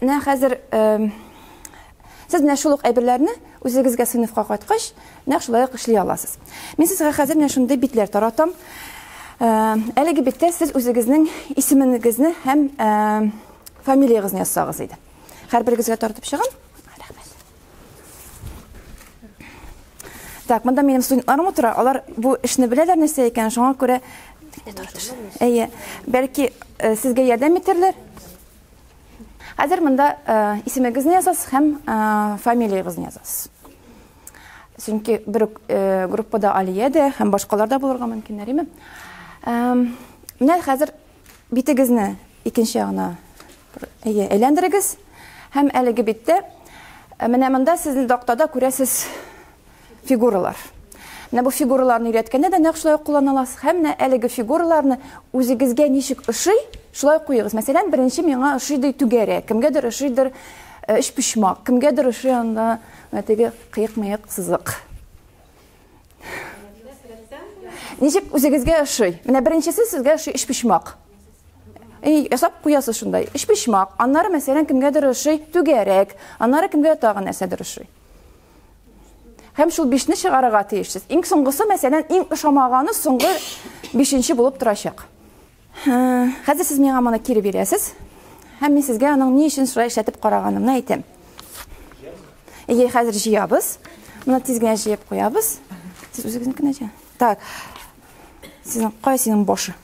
Менә хәзер сез менә шул ук әйберләрне үзегезгә сыйныфка кайткач, нәкъ шулай ук эшли аласыз. Мин сезгә хәзер менә шундый битләр таратам. Әлеге биттә сез үзегезнең исемегезне һәм фамилиягезне язсагыз иде. Һәрберегезгә тартып чыгам. Рәхмәт. Так, монда минем студентларым утыра. Алар бу эшне беләләр нәрсә икәнен, шуңа күрә Әйе, бәлки сезгә ярдәм итәрләр. Хәзер монда исемегезне язасыз һәм фамилиягезне язасыз. Чөнки бер үк группада Алия дә һәм башкалар да булырга мөмкин, әриме? Менә хәзер битегезне икенче ягына әйе, әйләндерегез һәм әлеге биттә менә монда сезнең тактада күрәсез Фигуралар. Менә бу фигураларны өйрәткәндә дә нәкъ шулай ук куллана аласыз. Һәм менә әлеге фигураларны үзегезгә ничек ошый, шулай куегыз. Мәсәлән, беренче миңа ошыйдый түгәрә, кемгәдер ошыйдыр э, өч почмак, кемгәдер ошый анда менә теге кыек-мыек сызык. Ничек үзегезгә ошый? Менә беренчесе сезгә ошый өч почмак. Эй, ясап куясыз шундай. Өч почмак. Аннары мәсәлән кемгәдер ошый түгәрәк, аннары кемгә тагын нәрсәдер ошый. Һәм шул бишне чыгарырга тиешсез. Иң соңгысы, мәсәлән, иң ошамаганы соңгы бишенче булып торачак. Хәзер сез миңа моны кире бирәсез. Һәм мин сезгә аның ни өчен шулай эшләтеп караганымны әйтәм. Әйе, хәзер җыябыз. Моны тиз генә җыеп куябыз. Сез үзегезнекенә җыясыз. Так. Сезнең кая синең башы?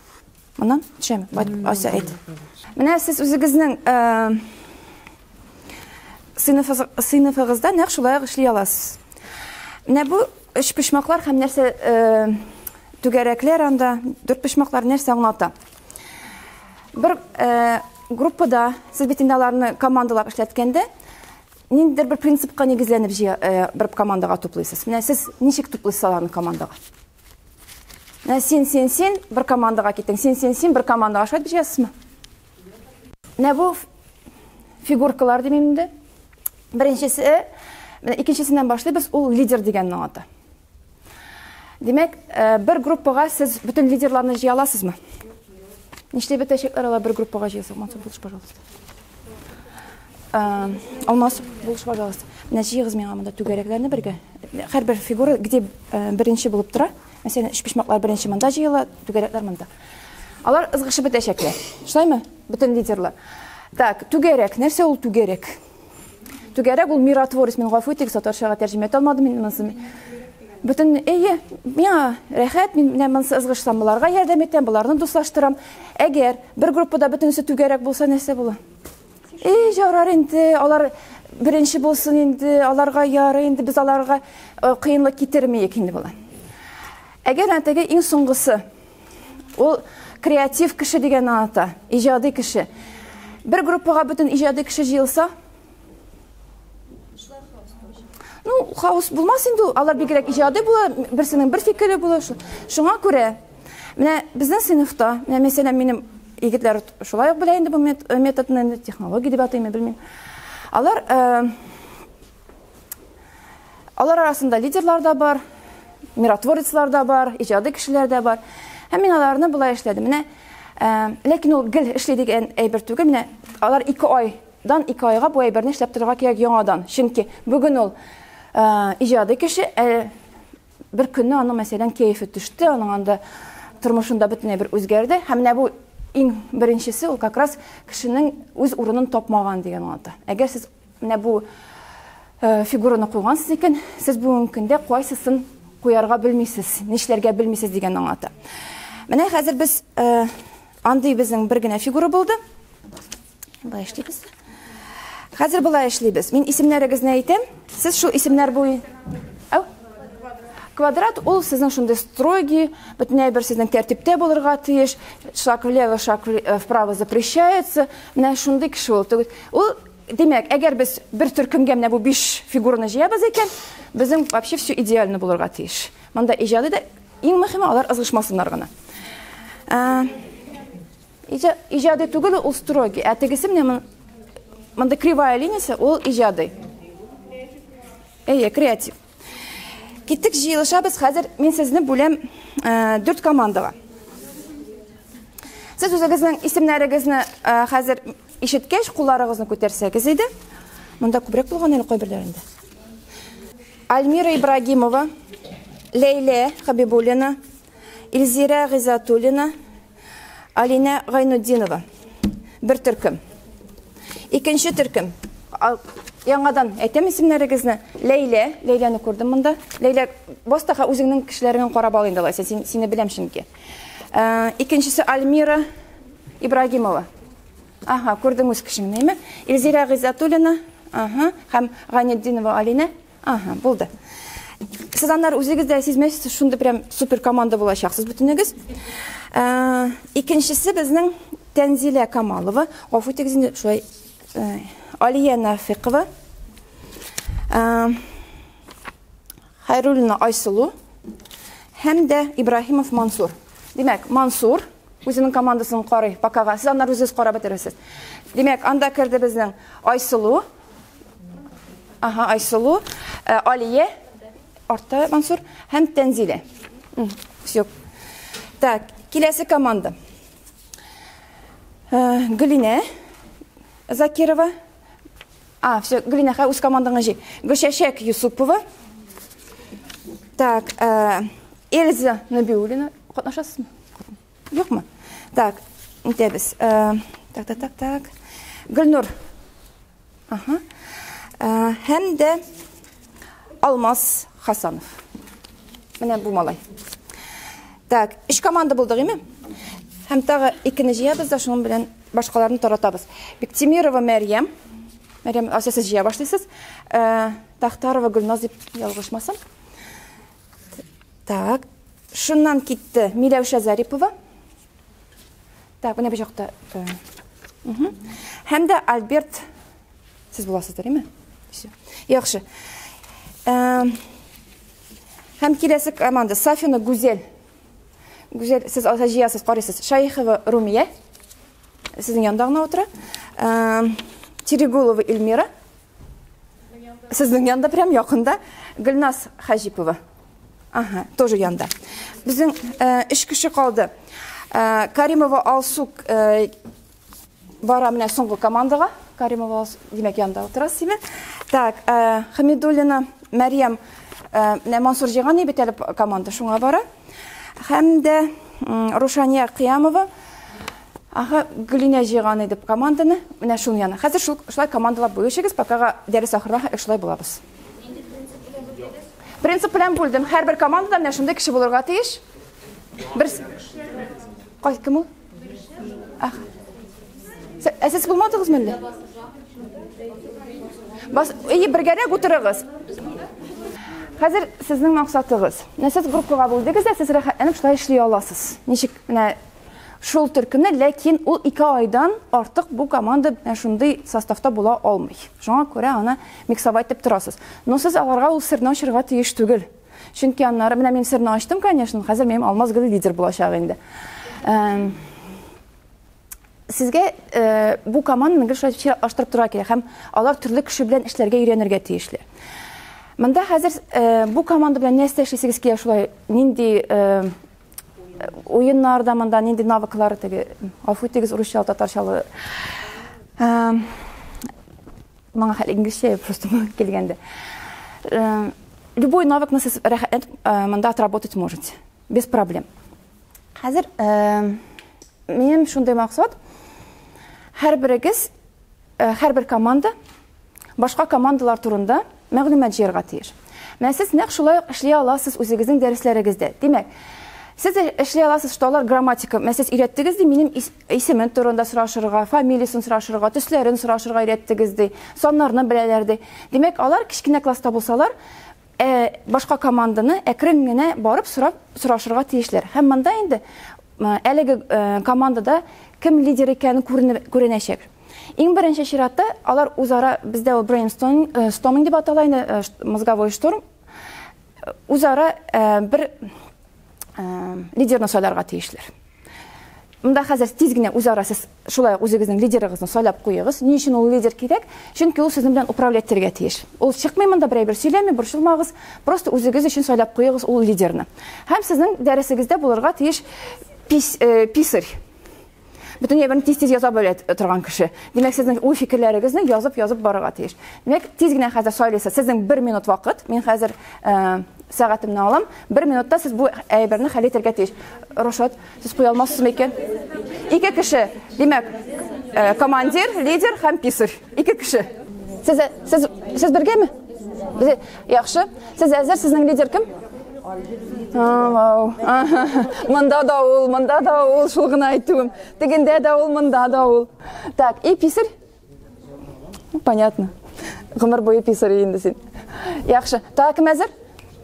Моннан төшәме? Бай, Ася әйт. Менә сез үзегезнең э, сыйныфы- сыйныфыгызда нәкъ шулай ук эшли аласыз. Менә бу өч почмаклар һәм нәрсә э, түгәрәкләр анда, дүрт почмаклар нәрсә аңлата? Бер э, группада сез бит инде аларны командалап эшләткәндә ниндидер бер принципка нигезләнеп җыя- э, бер командаға туплыйсыз. Менә сез ничек туплыйсыз аларны командаға? Менә син, син, син бер командаға киттең. Син, син, син бер командаға. Шулай бешәсезме? Менә бу фигуркалар дим инде. Беренчесе, менә икенчесеннән башлыйбыз, ул лидер дигәннең аты. Димәк, э, бер группага сез бөтен лидерларны җыя аласызмы? Нишләп бетәчәкләр алар бер группага җыелса, монсы булыш, пожалуйста. Алмас, булыш, пожалуйста. Менә җыегыз миңа монда түгәрәкләрне бергә. Һәрбер фигура где беренче булып тора. Мәсәлән, өчпочмаклар беренче монда җыела, түгәрәкләр монда. Алар ызгышып бетәчәкләр. Шулаймы? Бөтен лидерлар. Так, түгәрәк. Нәрсә ул түгәрәк? Түгәрәк ул миротворец. Мин гафу итегез, татарчага тәрҗемә итә алмадым мин монысын. Бөтен, әйе, миңа рәхәт, мин менә монысы ызгышсам, буларга ярдәм итәм, буларны дуслаштырам. Әгәр бер группада бөтенесе түгәрәк булса, нәрсә була? Эй, җарар инде, алар беренче булсын инде, аларга ярый инде, без аларга э, кыенлык китермәйек инде була. Әгәр әтәгә иң соңгысы, ул креатив кеше дигән ата, иҗади кеше. Бер группага бөтен иҗади кеше җыелса, ну, хаос булмас инде, алар бигрәк иҗади була, берсенең бер фикере була. Шуңа күрә Менә безнең сыйныфта, менә мәсәлән, минем егетләр шулай ук белә инде бу э, методны, инде технология дип атыймы, белмим. Алар э, алар арасында лидерлар да бар, миротворецлар да бар, иҗади кешеләр дә бар. Һәм мин аларны болай эшләдем. Менә э, ләкин ул гел эшли дигән әйбер түгел. Менә алар 2 айдан 2 айга бу әйберне эшләп торырга кирәк яңадан. Чөнки бүген ул э, иҗади кеше, э, Бер көнне аның, мәсәлән, кәефе төште, аның анда тормышында бөтенләй бер үзгәрде. Һәм менә бу иң беренчесе, ул как раз кешенең үз урынын тапмаган дигән аңлата. Әгәр сез менә бу э, фигураны куйгансыз икән, сез бүгенге көндә кайсысын куярга белмисез, нишләргә белмисез дигән аңлата. Менә хәзер без э, андый безнең бер генә фигура булды. Болай эшлибез. Хәзер болай эшлибез. Мин исемнәрегезне әйтәм. Сез шул исемнәр буй... Ау? Квадрат ул сезнең шундый строгий, бөтенләй бер сезнең тәртиптә булырга тиеш. Шаг влево, шаг э, вправо запрещается. Менә шундый кеше ул. Ул Димәк, әгәр без бер төркемгә менә бу 5 фигураны җыябыз икән, безнең вообще все идеально булырга тиеш. Монда иҗади да иң мөһиме алар ызгышмасыннар гына. Э, Иҗади түгел, ул строгий. Ә тегесе менә мон- мондый кривая линиясе, ул иҗади. Әйе, креатив. Киттек, җыелышабыз. Хәзер мин сезне бүләм э, дүрт командага. Сез үзегезнең исемнәрегезне э, хәзер ишеткәч, кулларыгызны күтәрсәгез иде. Монда күбрәк булган әле кайберләрендә. Альмира Ибрагимова, Ләйлә Хабибуллина, Илзира Гыйзатуллина, Алинә Гайнуддинова. Бер төркем. Икенче төркем. Яңадан әйтәм исемнәрегезне. Ләйлә, Ләйләне күрдем монда. Ләйлә, бастаха үзеңнең кешеләреңне карап ал инде алайса, син, сине беләм чөнки. Ә, икенчесе Альмира Ибрагимова. Ага, күрдем үз кешемне, әйме? Илзира Гыйзатуллина, ага, һәм Ганетдинова Алинә. Ага, булды. Сез аннары үзегез дә сизмәсез, шундый прям супер команда булачаксыз бөтенегез. Ә, икенчесе безнең Тәнзилә Камалова, гафу итегез инде, шулай ә, Алия Нафикова. Ә, Хайруллина Айсылу һәм дә Ибраһимов Мансур. Димәк, Мансур үзенең командасын карый, покага. Сез аннары үзегез карап бетерәсез. Димәк, анда керде безнең Айсылу, Ага, Айсылу, э, Алия, Арта Мансур һәм Тәнзилә. Все. Так, киләсе команда. Э, Гөлинә Закирова. А, все, Гөлинә, үз командаңа җи. Гөлчәчәк Юсупова. Так, э, Эльза Набиуллина. Катнашасызмы? Юкмы? Так, нитәбез? Э, так, так, так, так. Гөлнур. Ага. Э, һәм дә Алмаз Хасанов. Менә бу малай. Так, эш команда булдык, име? Һәм тагы икене җыябыз да шуның белән башкаларны таратабыз. Биктимирова Мәрьям. Мәрьям, асасы җыя башлыйсыз. Э, Тахтарова Гөлназ дип ялгышмасам. Так, шуннан китте Миләүшә Зарипова. Так, менә бу җакта. Һәм дә Альберт сез буласыз, дөресме? Все. Яхшы. Һәм киләсе команда Сафина Гүзел. Гүзел, сез алса җыясыз, карыйсыз. Шайхова Румия. Сезнең янда гына утыра. Терегулова Эльмира. Сезнең янда прям якында Гөлназ Хаҗипова. Ага, тоже янда. Безнең э, эш кеше калды. Э, Каримова Алсу э, бара менә соңгы командага. Каримова Алсу, димәк, янда утырасыз, димәк. Так, э, Хамидуллина Мәриям э, менә Мансур җыйган бит әле команда, шуңа бара. Һәм дә Рушания Кыямова Ага, Гөлинә җыйган иде команданы. Менә шуның янына. Хәзер шул шулай командалап бүлешегез, покага дәрес ахырына хәтле шулай булабыз. Принцип белән бүлдем. Һәрбер командада менә шундый кеше булырга тиеш. Бер Кай кем ул? Ах. Ә сез булмадыгызмы әллә? Бас, әйе, бергәрәк утырыгыз. Хәзер сезнең максатыгыз. Менә сез группага бүлдегез дә, сез рәхәтләнеп шулай эшли аласыз. Ничек? Менә шул төркемне, ләкин ул 2 айдан артык бу команда менә шундый составта була алмый. Шуңа күрә аны миксовать дип торасыз. Но сез аларга ул серне ачырга тиеш түгел. Чөнки аннары менә мин серне ачтым, конечно, хәзер минем алмаз гел лидер булачак инде. Эм, Сезгә э, бу команданы гел шулай чиратлаштырып торырга кирәк һәм алар төрле кеше белән эшләргә өйрәнергә тиешле. Монда хәзер э, бу команда белән нәрсә эшлисегез килә шулай? Нинди э, уеннарда монда нинди навыклар теге? Афу итегез, урысча, татарча. Эм, Моңа хәл инглизчә просто килгәндә. Э, любой навык нас рәхәтләнеп э, монда отработать можете. Без проблем. Хәзер э, минем шундый максат. Һәрберегез, һәрбер команда башка командалар турында мәгълүмат җыярга тиеш. Менә сез нәкъ шулай эшли аласыз үзегезнең дәресләрегездә. Димәк, Сез эшли аласыз, что алар грамматика, менә сез өйрәттегез ди, минем Исемен турында сорашырга, фамилиясен сорашырга, төсләрен сорашырга өйрәттегез, ди. Саннарны беләләр, ди. Димәк, алар кечкенә класста булсалар, ә, башка команданы әкрен генә барып сорап сорашырга тиешләр. Һәм монда инде әлеге командада кем лидер икәнен күренәчәк. Иң беренче чиратта алар үзара бездә ул брейнсторминг дип атала инде, мозговой штурм. Үзара бер лидерны сайларга тиешләр. Монда хәзер тиз генә үзара сез шулай ук үзегезнең лидерыгызны сайлап куегыз. Ни өчен ул лидер кирәк? Чөнки ул сезнең белән управлять итәргә тиеш. Ул чыкмый монда, берәй бер сөйләми, борчылмагыз. Просто үзегез өчен сайлап куегыз ул лидерны. Һәм сезнең дәресегездә булырга тиеш пис, э, писарь. Бөтен ябын тиз-тиз яза белә торган кеше. Димәк, сезнең уй фикерләрегезне язып-язып барырга тиеш. Димәк, тиз генә хәзер сайлыйсыз. Сезнең 1 минут вакыт. Мин хәзер Э, сәгатемне алам. Бер минутта сез бу әйберне хәл итәргә тиеш. Рушат, сез куя алмассызмы икән? Ике кеше. Димәк, э, командир, лидер һәм писарь. Ике кеше. Сез сез сез бергәме? Без яхшы. Сез әзер, сезнең лидер кем? Вау. Монда да ул, монда да ул, шул гына әйтүем. Тегендә дә ул, монда да ул. Так, и писарь? Понятно. Гомер буе писар инде син. Яхшы. Тагы кем әзер?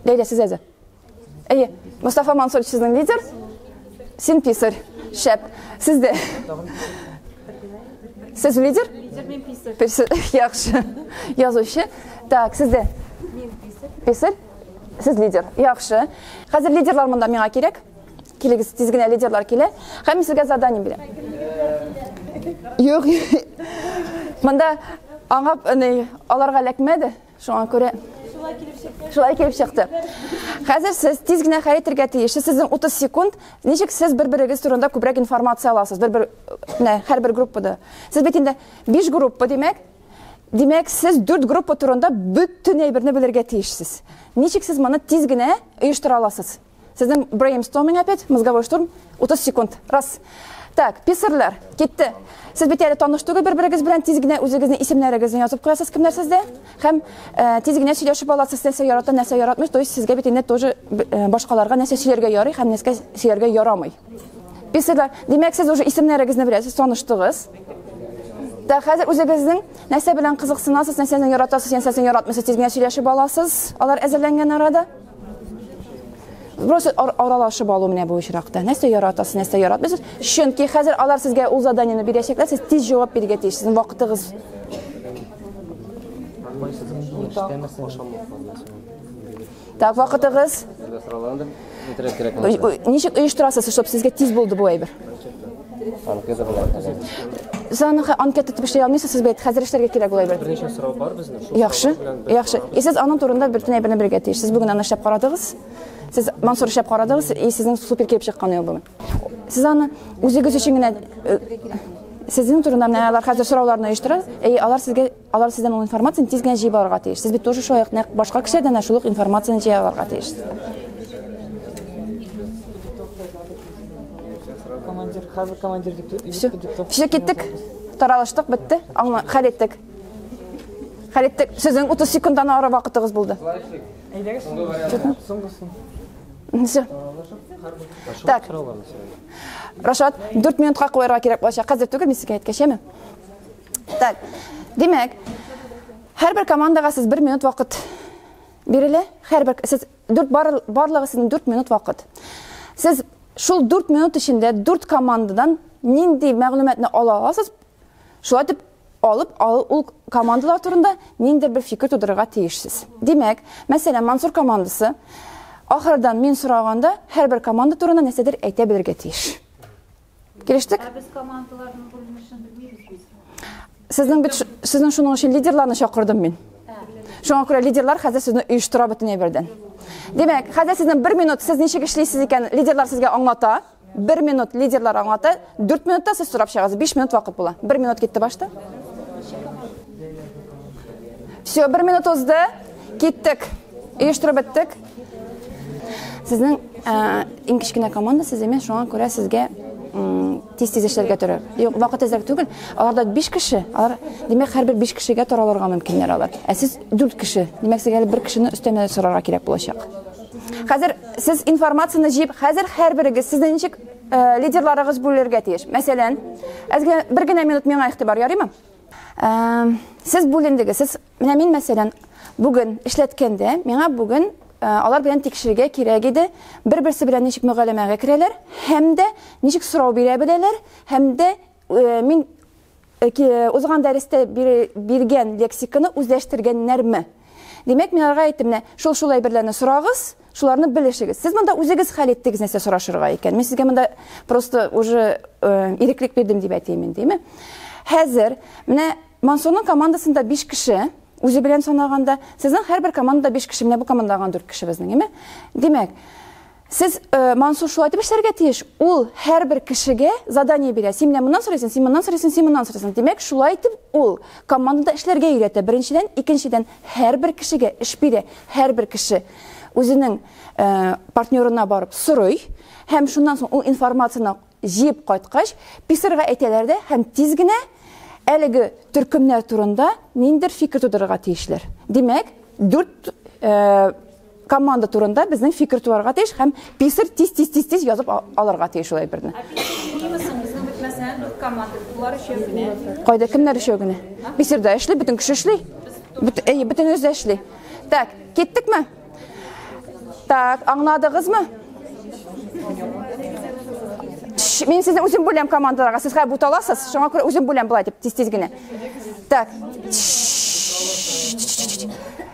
Ләйлә, сез әзер. Әйе, Мустафа Мансур сезнең лидер. Син писар. Шәп. Сез дә. Сез лидер? Лидер мен писар. Писар. Яхшы. Язучы. Так, сез дә. Мин писар. Писар. Сез лидер. Яхшы. Хәзер лидерлар монда миңа кирәк. Килегез, тиз генә лидерлар килә. Һәм мин сезгә задание бирәм. Юк. Монда аңа ни аларга ләкмәде. Шуңа күрә Шулай килеп чыкты. Шулай килеп чыкты. Хәзер сез тиз генә хәрәкәт итәргә тиеш. Сезнең 30 секунд. Ничек сез бер-берегез турында күбрәк информация аласыз? Бер-бер менә һәрбер группада. Сез бит инде 5 группа, димәк, Димәк, сез дүрт группа турында бөтен әйберне белергә тиешсез. Ничек сез моны тиз генә оештыра аласыз? Сезнең брейнсторминг опять, мозговой штурм, 30 секунд. Раз. Так, писерләр, китте. Сез бит әле таныш түгел бер-берегез белән, тиз генә үзегезнең исемнәрегезне язып куясыз, кемнәр сездә? Һәм э, тиз генә сөйләшеп аласыз, нәрсә ярата, нәрсә яратмый. То есть сезгә бит инде тоже э, башкаларга нәрсә сөйләргә ярый һәм нәрсә сөйләргә ярамый. Писерләр, димәк, сез уже исемнәрегезне беләсез, таныштыгыз. Да, хәзер үзегезнең нәрсә белән кызыксынасыз, нәрсәне яратасыз, нәрсәне яратмыйсыз, тиз генә сөйләшеп аласыз. Алар әзерләнгән арада. Просто ар аралашып алу менә бу очракта. Нәрсә яратасыз, нәрсә яратмыйсыз? Чөнки хәзер алар сезгә ул заданиене бирәчәкләр, сез тиз җавап бирергә тиеш. Сезнең вакытыгыз Так, вакытыгыз. Ничек оештырасыз, чтобы сезгә тиз булды бу әйбер? Анкета була хәзер. Сез аны анкета итеп эшли алмыйсыз, сез бит хәзер эшләргә кирәк була бит. Берничә сорау бар безнең. Шул Яхшы. Яхшы. И сез аның турында бер тенә берне бергә тиеш. Сез бүген аны эшләп карадыгыз. Сез Мансур эшләп карадыгыз, и сезнең супер килеп чыккан ел бүген. Сез аны үзегез өчен генә э, сезнең турында менә алар хәзер сорауларны оештыра, и алар сезгә Алар сездән ул информацияне тиз генә җыеп алырга тиеш. Сез бит тоже шулай ук нәкъ башка кешеләрдән дә шул ук информацияне җыя алырга тиеш. Командир, хәзер командир дип дип- Все. дип- Все киттек. Таралыштык, бетте. Аңла, хәл иттек. Хәл иттек. Сезнең 30 секундтан ары вакытыгыз булды. Әйдәгез. Соңгысын. Все. Так. Рашат, 4 минутка куярга кирәк булачак. Хәзер түгел, мин сезгә әйткәчәме? Так, димәк, һәрбер командага сез бер минут вакыт бирелә. Һәрбер сез дүрт бар, барлыгы сезнең дүрт минут вакыт. Сез шул дүрт минут эчендә дүрт командадан нинди мәгълүматны ала аласыз? Шулай дип алып ал, ул командалар турында ниндидер бер фикер тудырырга тиешсез. Димәк, мәсәлән, Мансур командасы ахырдан мин сораганда һәрбер команда турында нәрсәдер әйтә белергә тиеш. Килештек? Ә без командаларның бүленешен белмибез бит. Сезнең бит сезнең шуның өчен лидерларны чакырдым мин. Шуңа күрә лидерлар хәзер сезне оештыра бөтен әйбердән. Димәк, хәзер сезнең бер минут сез ничек эшлисез икән, лидерлар сезгә аңлата. Бер минут лидерлар аңлата. Дүрт минутта сез сорап чыгасыз. Биш минут вакыт була. Бер минут китте башта. Все, бер минут узды. Киттек. Оештырып беттек. Сезнең ә, иң кечкенә команда сез имеш, шуңа күрә сезгә тиз тиз эшләргә торыр. Юк, вакыт әзрәк түгел. Аларда 5 кеше, алар димәк һәрбер 5 кешегә таралырга мөмкиннәр алар. Ә сез 4 кеше. Димәк сезгә бер кешене өстәмә сорарга кирәк булачак. Хәзер сез информацияне җыеп, хәзер һәрберегез сезне ничек э, лидерларыгыз бүлергә тиеш. Мәсәлән, бер генә минут миңа игътибар ярыймы? Э, сез бүлендегез, сез Менә мин, мәсәлән, бүген эшләткәндә, миңа бүген алар белән тикшерергә кирәк иде, бер-берсе белән ничек мөгаләмәгә керәләр һәм дә ничек сорау бирә беләләр һәм дә мин узган дәрестә биргән лексиканы үзләштергәннәрме? Димәк, мин аларга әйттем, менә шул шул әйберләрне сорагыз, шуларны белешегез. Сез монда үзегез хәл иттегез нәрсә сорашырга икән. Мин сезгә монда просто уже иреклек бирдем дип әйтәмен, диме? Хәзер менә Мансурның командасында биш кеше, үзе белән санаганда. Сезнең һәрбер командада биш кеше, менә бу командада гына дүрт кеше безнең, име? Димәк, сез Мансур шулай итеп эшләргә тиеш, ул һәрбер кешегә задание бирә. Син менә моннан сорыйсың, син моннан сорыйсың, син моннан сорыйсың. Димәк, шулай итеп ул командада эшләргә өйрәтә, беренчедән, икенчедән, һәрбер кешегә эш бирә, һәрбер кеше үзенең партнерына барып сорый һәм шуннан соң ул информацияне Җыеп кайткач, писарьга әйтәләр дә һәм тиз генә әлеге төркемнәр турында ниндидер фикер тудырырга тиешләр. Димәк, дүрт команда турында безнең фикер туарга тиеш һәм писарь тиз-тиз-тиз-тиз язып алырга тиеш ул әйберне. Ә писарь җыймысың, үзең бетмәсә, дүрт команда, болар өчәү генә. Кайда, кемнәр өчәү генә? Писарь да эшли, бөтен кеше эшли. Әйе, бөтенебез дә эшли. Так, киттекме? Так, аңладыгызмы? Мин сезне үзем бүләм командаларга. Сез хәзер буталасыз. Шуңа күрә үзем бүләм булай дип тиз-тиз генә. Так.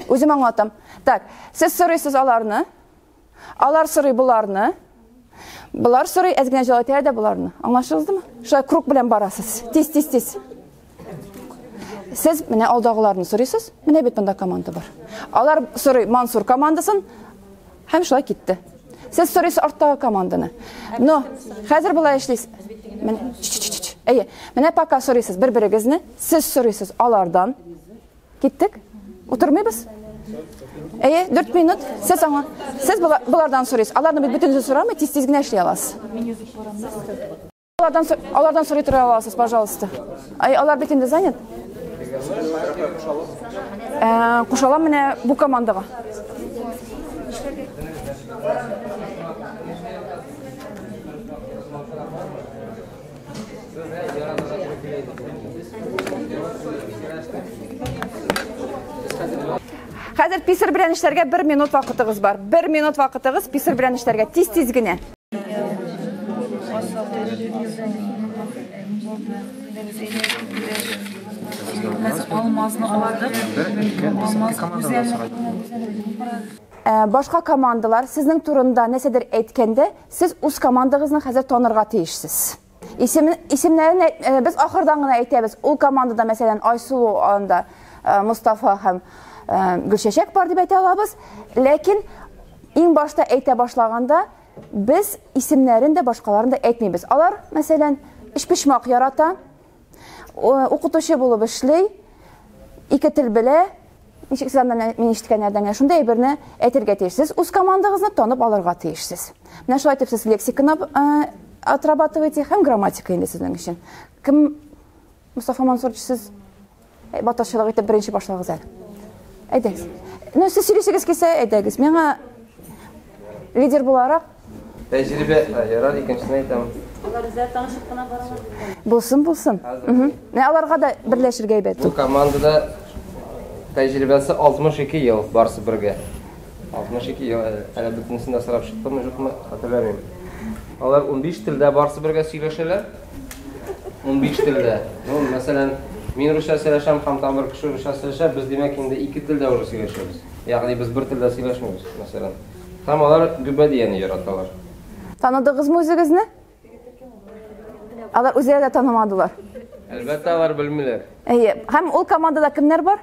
Үзем аңлатам. Так, сез сорыйсыз аларны. Алар сорый буларны. Болар сорый, әз генә җылайтыра да боларны. Аңлашылдымы? Шулай круг белән барасыз. Тиз, тиз, тиз. Сез менә алдагыларны сорыйсыз. Менә бит монда команда бар. Алар сорый Мансур командасын һәм шулай китте. Сез сорыйсыз арттагы команданы. Но хәзер болай эшлисез. Менә. Әйе. Менә пока сорыйсыз бер-берегезне. Сез сорыйсыз алардан. Киттек? Утырмыйбыз? Әйе, 4 минут. Сез аңа. Сез булардан сорыйсыз. Аларны бит бөтенесе сорамый, тиз-тиз генә эшли аласыз. Алардан алардан сорый тора аласыз, пожалуйста. Ай, алар бит инде занят. Э, кушалам менә бу командага. Хәзер писер белән эшләргә 1 минут вакытыгыз бар. 1 минут вакытыгыз писер белән эшләргә тиз-тиз генә. Башка командалар сезнең турында нәрсәдер әйткәндә, Сез үз командагызны хәзер танырга тиешсез. Исемен, исемнәрен э, без ахырдан гына әйтәбез. Ул командада, мәсәлән, Айсылу анда э, Мустафа һәм э, Гөлчәчәк бар дип әйтә алабыз. Ләкин иң башта әйтә башлаганда без исемнәрен дә башкаларын да әйтмибез. Алар, мәсәлән, эчпочмак ярата, укытучы булып эшли, ике тел белә, ничек сез анда мин ишеткәннәрдән генә шундый әйберне әйтергә тиешсез. Үз командагызны танып алырга тиешсез. Менә шулай итеп сез лексиканы э, отрабатываете һәм грамматика инде сезнең өчен. Кем Мустафа Мансурович сез Әй, батырчылык итеп беренче башлагыз әле. Әйдәгез. Ну, сез сөйлисегез кесә, әйдәгез. Миңа лидер буларак... Тәҗрибә, ярар, икенчесен әйтәм. Алар үзләр танышып кына баралар. Булсын, булсын. Ә аларга да берләшергә әйбәт. Бу командада тәҗрибәсе 62 ел барсы бергә. 62 ел әле бөтенесен дә сорап чыктымы, юкмы, хәтерләмим. Алар 15 телдә барсы бергә сөйләшәләр. 15 телдә. Ну, мәсәлән, мин русча сөйләшәм, һәм там бер кеше русча сөйләшә, без димәк инде ике телдә уже сөйләшәбез. Ягъни без бер телдә сөйләшмибез, мәсәлән. Һәм алар гөбәдияне яраталар. Таныдыгызмы үзегезне? Алар үзләре дә танымадылар. Әлбәттә, алар белмиләр. Әйе. Һәм ул командада кемнәр бар?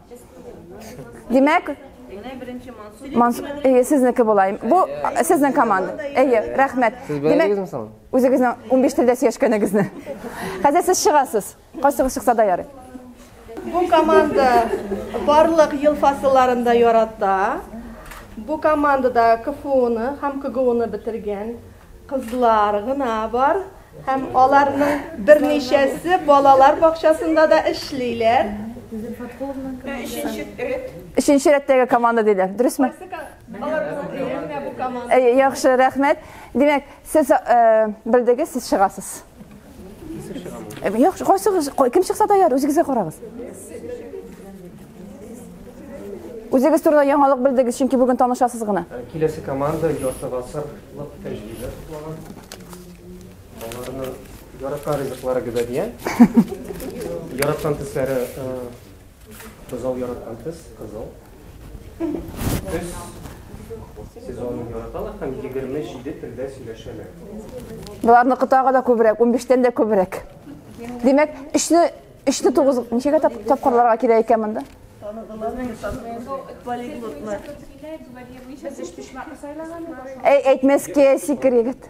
Димәк, Мансур, әйе, сезнеке булайым. Бу сезнең команда. Әйе, рәхмәт. Сез беләсезме соң? Үзегезнең 15 телдә сөйләшкәнегезне. Хәзер сез чыгасыз. Кайсыгыз чыкса да ярый. Бу команда барлык ел фасылларында ярата. Бу командада КФУны һәм КГУны бетергән. Кызлар гына бар һәм аларның берничәсе балалар бакчасында да эшлиләр. Өченче рәт. Өченче рәттәге команда диләр. Дөресме? Яхшы, рәхмәт. Димәк, сез белдегез, сез чыгасыз. Юк, кайсыгыз, кем чыкса да яр, үзегезгә карагыз. Үзегез турында яңалык белдегез, чөнки бүген танышасыз гына. Э, киләсе команда ярты гасырлык тәҗрибә туплаган. Аларны яраткан ризыклары гөбә дигән. Яраткан төсләре э, кызыл яраткан төс, кызыл. Көз сезонын яраталар һәм 27 телдә сөйләшәләр. Боларны кытага да күбрәк, 15-тән дә күбрәк. Димәк, эшне эшне тугыз ничәгә тап, тапкырларга кирәк икән монда? Әй, әйтмәскә сикер егет.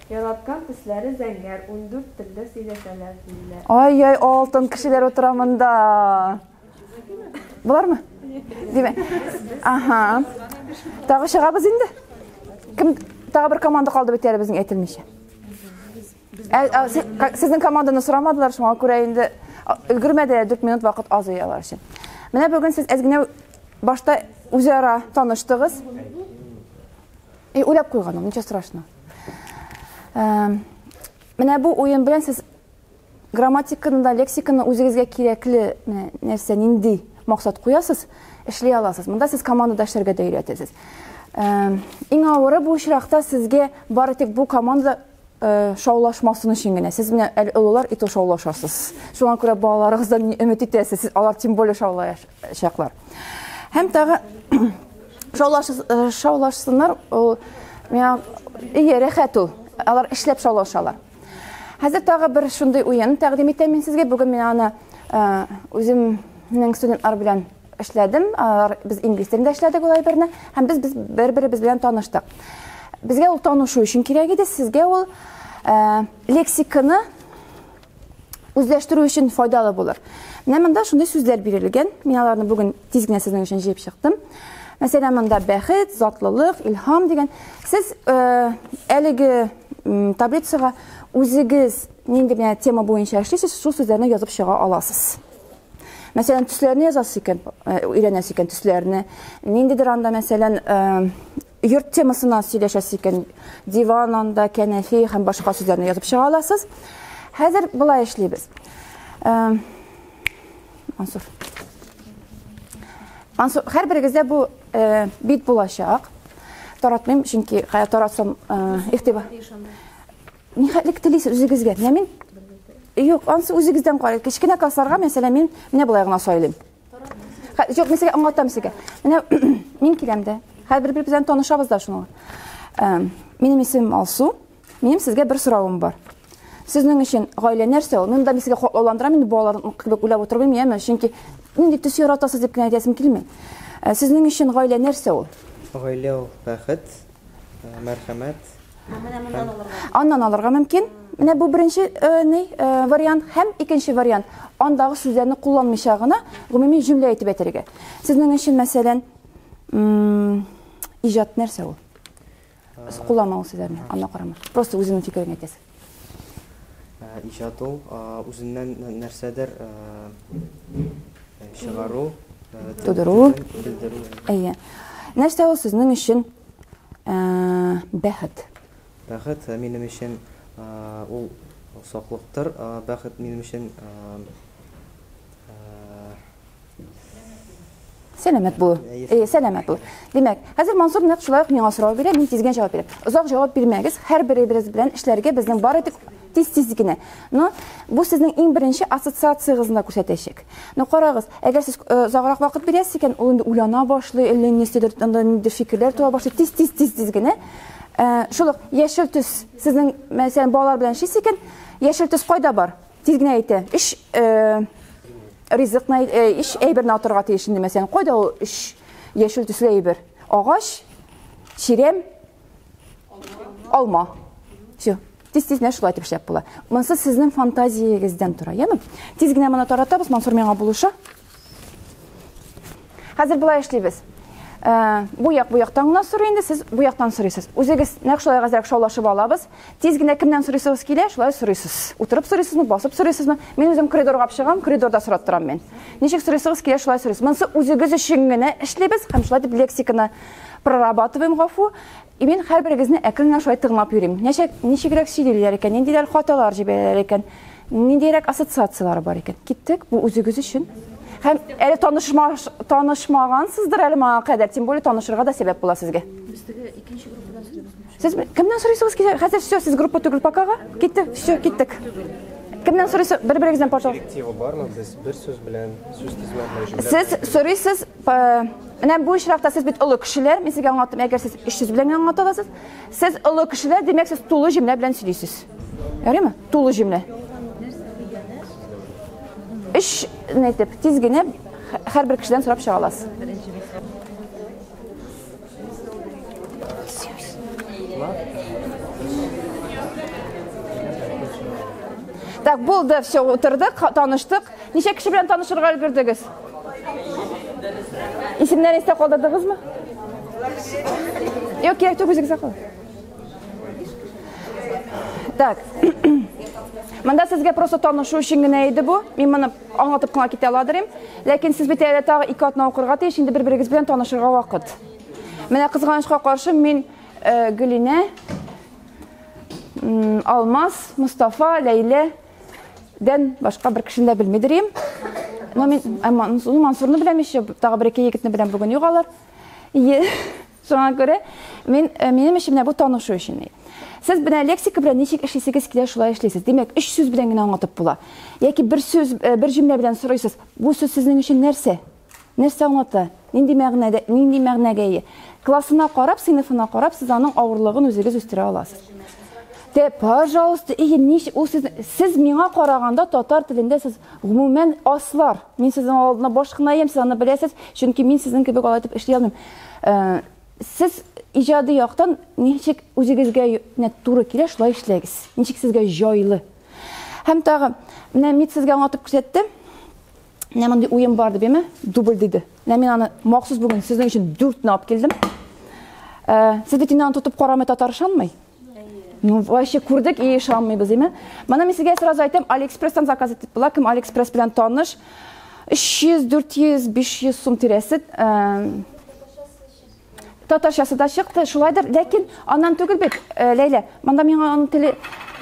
Яраткан төсләре зәңгәр, ундүрт телдә сөйләшәләр, диләр. Ай-яй, алтын кешеләр утыра монда. Болармы? Димә. Аһа. Тагы чыгабыз инде. Кем тагы бер команда калды бит әле безнең әйтелмичә. Сезнең команданы сорамадылар, шуңа күрә инде өлгермәде, 4 минут вакыт аз ияләр өчен. Менә бүген сез әз генә башта үзара таныштыгыз. И уйлап куйган ул, ничего страшного. Эм, Менә бу уен белән сез грамматиканы да, лексиканы үзегезгә кирәкле менә нәрсә, нинди максат куясыз, эшли аласыз. Монда сез командада эшләргә дә өйрәтәсез. Эм, Иң авыры бу очракта сезгә бары тик бу команда шаулашмасын өчен генә. Сез менә әле олылар и то шаулашасыз. Шуңа күрә балаларыгыздан ни өмет итәсез? Сез алар тем более шаулаячаклар. Һәм тагы шаулаш шаулашсыннар, ул миңа ие рәхәт ул. Алар эшләп шаулашалар. Хәзер тагы бер шундый уен тәкъдим итәм мин сезгә. Бүген мин аны үземнең студентлар белән Эшләдем, без инглиз телендә эшләдек ул әйберне, һәм без без бер-беребез белән таныштык. Безгә ул танышу өчен кирәк иде, сезгә ул э, лексиканы үзләштерү өчен файдалы булыр. Менә монда шундый сүзләр бирелгән. Мин аларны бүген тиз генә сезнең өчен җыеп чыктым. Мәсәлән, монда бәхет, затлылык, илһам дигән. Сез э, әлеге таблицага үзегез нинди генә тема буенча эшлисез, шул сүзләрне язып чыга аласыз. Мәсәлән, төсләрне язасы икән, э, өйрәнәсе икән төсләрне. Ниндидер анда, мәсәлән, э, йорт темасына сөйләшәсе икән, диван анда, кәнәфи һәм башка сүзләрне язып чыга аласыз. Хәзер болай эшлибез. Э, Мансур. Мансур, һәрберегездә бу бит булачак. Таратмыйм, чөнки таратсам игътибар. Нихәтлек телисез үзегезгә? Менә мин Юк, ансы үзегездән карый. Кечкенә классларга, мәсәлән, мин менә болай гына сайлыйм. Юк, мәсәлән, аңлатам сезгә. Менә мин киләм дә. Хәзер бер-бер белән танышабыз да шуны. Минем исемем Алсу. Минем сезгә бер соравым бар. Сезнең өчен гаилә нәрсә ул? Мин дә сезгә хаклауландырам, инде балаларым кебек уйлап утырып белмим, яме, чөнки нинди төс яратасыз дип кенә әйтәсем килми. Сезнең өчен гаилә нәрсә ул? Гаилә ул бәхет, Мәрхәмәт. Менә моннан алырга. Аннан алырга мөмкин. Менә бу беренче э, ни э, вариант һәм икенче вариант. Андагы сүзләрне кулланмыйча гына гомуми җөмлә әйтеп әйтергә. Сезнең өчен мәсәлән, иҗат нәрсә ул? Кулланмау сүзләрне, анда карама. Просто үзеңнең фикереңне әйтәсең. Иҗат ул, үзеннән нәрсәдер чыгару, тудыру, белдерү. Әйе. Нәрсә ул сезнең өчен бәхет? Бәхет минем өчен ул саклыктыр. Бәхет минем өчен Сәләмәт бул. Э, сәләмәт бул. Димәк, хәзер Мансур нәкъ шулай ук миңа сорау бирә, мин тизгән җавап бирәм. Озак җавап бирмәгез, һәр беребез белән эшләргә безнең бар итеп тиз-тиз генә. Но бу сезнең иң беренче ассоциациягезне дә күрсәтәчәк. Но карагыз, әгәр сез э, озаграк вакыт бирәсез икән, ул инде уйлана башлый, әллә нәрсәдер анда ниндидер фикерләр туа башлый, тиз-тиз тиз-тиз генә. Э, шул ук яшел төс сезнең мәсәлән балалар белән эшлисез икән, яшел төс кайда бар? Тиз генә әйтә. Өч ризыкны, өч әйберне атырга тиеш инде мәсәлән. Кайда ул өч яшел төсле әйбер? Агач, чирәм, алма. Все. Тиз тиз нәрсә шулай итеп эшләп була. Монсы сезнең фантазиягездән тора, яме? Тиз генә моны таратабыз, Мансур миңа булыша. Хәзер болай эшлибез. Э, бу як бу яктан гына сорый инде, сез бу яктан сорыйсыз. Үзегез нәкъ шулай газрәк шаулашып алабыз. Тиз генә кемнән сорыйсыз килә, шулай сорыйсыз. Утырып сорыйсызмы, басып сорыйсызмы? Мин үзем коридорга чыгам, коридорда сорап торам мин. Ничек сорыйсыз килә, шулай сорыйсыз. Монсы үзегез өчен генә эшлибез һәм шулай дип лексиканы прорабатываем гафу. И мин хәрберегезне әкрен генә шулай тыңлап йөрим. Нәчәк, ничегрәк сөйлиләр икән, ниндидер хаталар җибәрәләр икән, ниндиерәк ассоциацияләр бар икән. Киттек, бу үзегез өчен. Һәм әле танышма, танышмагансыздыр әле моңа кадәр, тем более танышырга да сәбәп була сезгә. Без теге икенче группадан сөйләдек. Сез кемнән сорыйсыз килә? Хәзер все, сез группа түгел покага. Киттек, все, киттек. Кемнән сорыйсыз? Бер-берегездән, пожалуйста. Директива бармы? Без бер сүз белән, сүз тизмәләр җүләр. Сез сорыйсыз Менә бу очракта сез бит олы кешеләр, мин сезгә аңлаттым, әгәр сез эш сүз белән аңлата аласыз, сез олы кешеләр, димәк, сез тулы җөмлә белән сөйлисез. Ярыймы? Тулы җөмлә. Эш нәйтеп, тиз генә һәрбер кешедән сорап чыга аласыз. Так, булды, все, утырдык, таныштык. Ничә кеше белән танышырга өлгердегез? Исемнәрен истә калдырдыгызмы? Юк, кирәк түгел, үзегезгә калыр. Так. Монда сезгә просто танышу өчен генә иде бу. Мин моны аңлатып кына китә аладырым. Ләкин сез бит әле тагы ике атна укырга тиеш, инде бер-берегез белән танышырга вакыт. Менә кызганычка каршы мин э, Гөлинә, Алмаз, Мустафа, Ләйлә Дән башка бер кешене дә белмидер идем. Но мин Мансурны беләм еще, тагы бер ике егетне беләм бүген югалар. Ие. Шуңа күрә мин э, минем өчен менә бу танышу өчен. Сез менә лексика белән ничек эшлисегез килә, шулай эшлисез. Димәк, өч сүз белән генә аңлатып була. Яки бер сүз, э, бер җөмлә белән сорыйсыз. Бу сүз сезнең өчен нәрсә? Нәрсә аңлата? Нинди мәгънәдә, нинди мәгънәгә ия? Классына карап, сыйныфына карап, сез аның авырлыгын үзегез үстерә аласыз. Тә, пожалуйста, иге ниш, ул сез, сез миңа караганда татар телендә сез гомумән аслар. Мин сезнең алдына баш кына иям, сез аны беләсез, чөнки мин сезнең кебек алай итеп эшли алмыйм. Э, сез иҗади яктан ничек үзегезгә нә туры килә, шулай эшләгез. Ничек сезгә җайлы. Һәм тагы, менә мид сезгә аңлатып күрсәтте. Менә мондый уен бар дип яме, дубль диде. Менә мин аны махсус бүген сезнең өчен 4 алып килдем. Э, сез бит инде аны тотып карамый татар ышанмый. Ну, вообще күрдек и ышанмыйбыз, яме. Моны мин сезгә сразу әйтәм, Алиэкспресстан заказ итеп була, кем Алиэкспресс белән таныш. 300, 400, 500 сум тирәсе. Э, Татарчасы да чыкты, шулайдыр, ләкин аннан түгел бит, э, Ләйлә. Монда миңа аның теле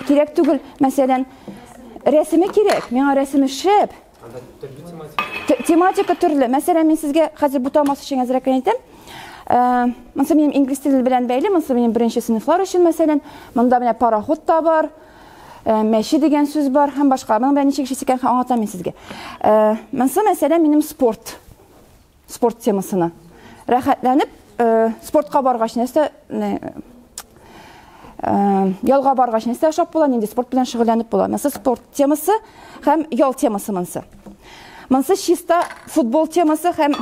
кирәк түгел, мәсәлән, рәсеме кирәк, миңа рәсеме шәп. Тематика төрле. Мәсәлән, мин сезгә хәзер бу тамасы өчен әзрәк әйтәм. Э, монысы минем инглиз теле белән бәйле, монысы минем беренче сыйныфлар өчен, мәсәлән, монда менә пароход та бар, э, мәче дигән сүз бар һәм башка. Моның белән ничек эшлисекән аңлатам мин сезгә. Монысы мәсәлән минем спорт Спорт темасына. Рәхәтләнеп, спортка баргач нәрсә ялга баргач нәрсә ашап була, нинди спорт белән шөгыльләнеп була. Мәсәлән, спорт темасы һәм ял темасы монсы. Монсы чиста футбол темасы һәм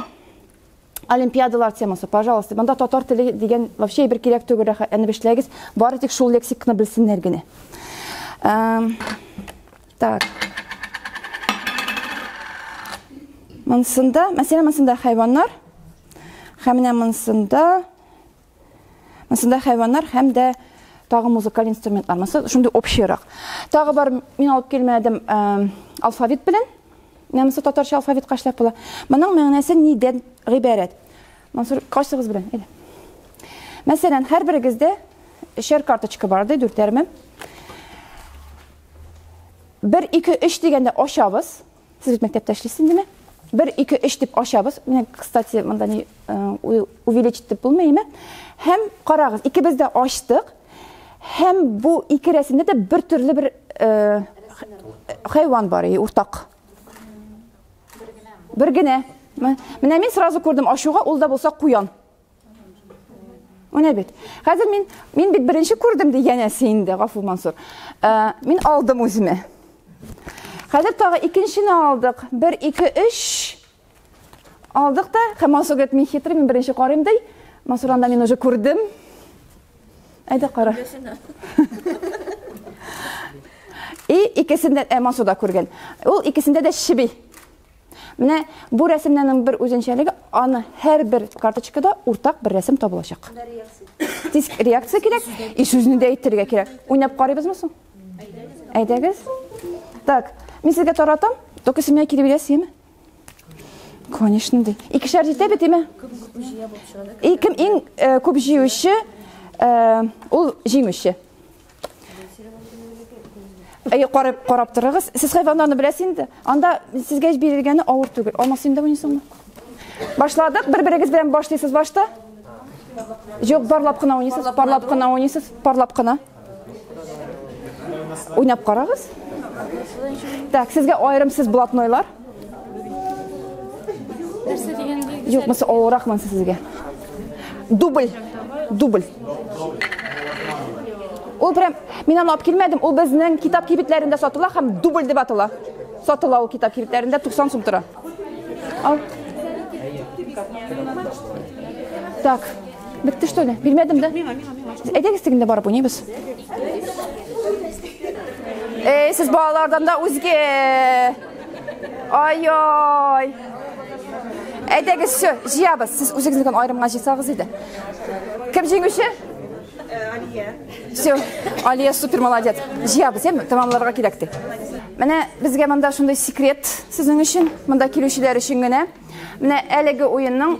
олимпиадалар темасы. Пожалуйста, монда татар теле дигән вообще бер кирәк түгел, рәхәтләнеп эшләгез. Бары тик шул лексикны белсеннәр генә. Так. Монсында, мәсәлән, монсында хайваннар. Һәм менә монсында монсында хайваннар һәм дә тагы музыкаль инструментлар. Монсы шундый общерак. Тагы бар, мин алып килмәдем, э, алфавит белән. Менә монсы татарча алфавит кашлап була. Моның мәгънәсе нидән гыйбарәт? Монсы кайсыгыз белән? Әйдә. Мәсәлән, һәр берегездә шер карточка бар ди, дүртәрме? Бер, ике, өч дигәндә ачабыз. Сез бит мәктәптә эшлисез инде, Бер, ике, өч дип ачабыз. Менә, кстати, монда ни э, увеличить дип булмыймы? Һәм карагыз, икебез дә ачтык. Һәм бу ике рәсемдә дә бер төрле бер э, хайван бар, и уртак. Бер генә. Менә мин сразу күрдем, ачуга ул да булса куян. Менә бит. Хәзер мин мин бит беренче күрдем ди янәсе инде Гафу Мансур. Ә, мин алдым үземә. Хәзер тагы икенчене алдык. 1 2 3 алдык та, һәм Мансур говорит, мин хитрый, мин беренче карыйм ди. Мансур анда мин уже күрдем. Әйдә кара. И икесендә ә Мансур да күргән. Ул икесендә дә чеби. Менә бу рәсемнәрнең бер үзенчәлеге, аны һәрбер карточкада уртак бер рәсем табылачак. Тиз реакция кирәк, и сүзне дә әйтергә кирәк. Уйнап карыйбызмы соң? Әйдәгез. Так, мин сезгә таратам, только сез миңа кире бирәсезме? Конечно, ди. Икешәр җитә бит, име? И кем иң э, күп җиюче, э, ул җиңүче. Әйе, карап, карап торыгыз. Сез хайваннарны беләсез инде. Анда сезгә эш бирелгәне авыр түгел. Алмас инде уйныйсыңмы? Башладык. Бер-берегез белән башлыйсыз башта. Юк, барлап кына уйныйсыз, барлап кына уйныйсыз, барлап кына. Уйнап карагыз. Так, сезгә аерым сез блатнойлар. Нәрсә дигән билгеләр? Юк, мысы олырак монсы сезгә. Дубль. Дубль. Ул прям мин аны алып килмәдем. Ул безнең китап кибетләрендә сатыла һәм дубль дип атала. Сатыла ул китап кибетләрендә 90 сум тора. Ал. Так. Бетте что ли? Бирмәдем дә. Әйдәгез тегендә барып уйныйбыз. Эй, сез балалардан да үзге Ай-ай! Әйдәгез, все, җыябыз. Сез үзегезне генә аерымга җыйсагыз иде. Кем җиңүче? Алия. Все, Алия супер молодец. Җыябыз, әм, тәмамларга кирәк ди. Менә безгә монда шундый секрет сезнең өчен, монда килүчеләр өчен генә. Менә әлеге уенның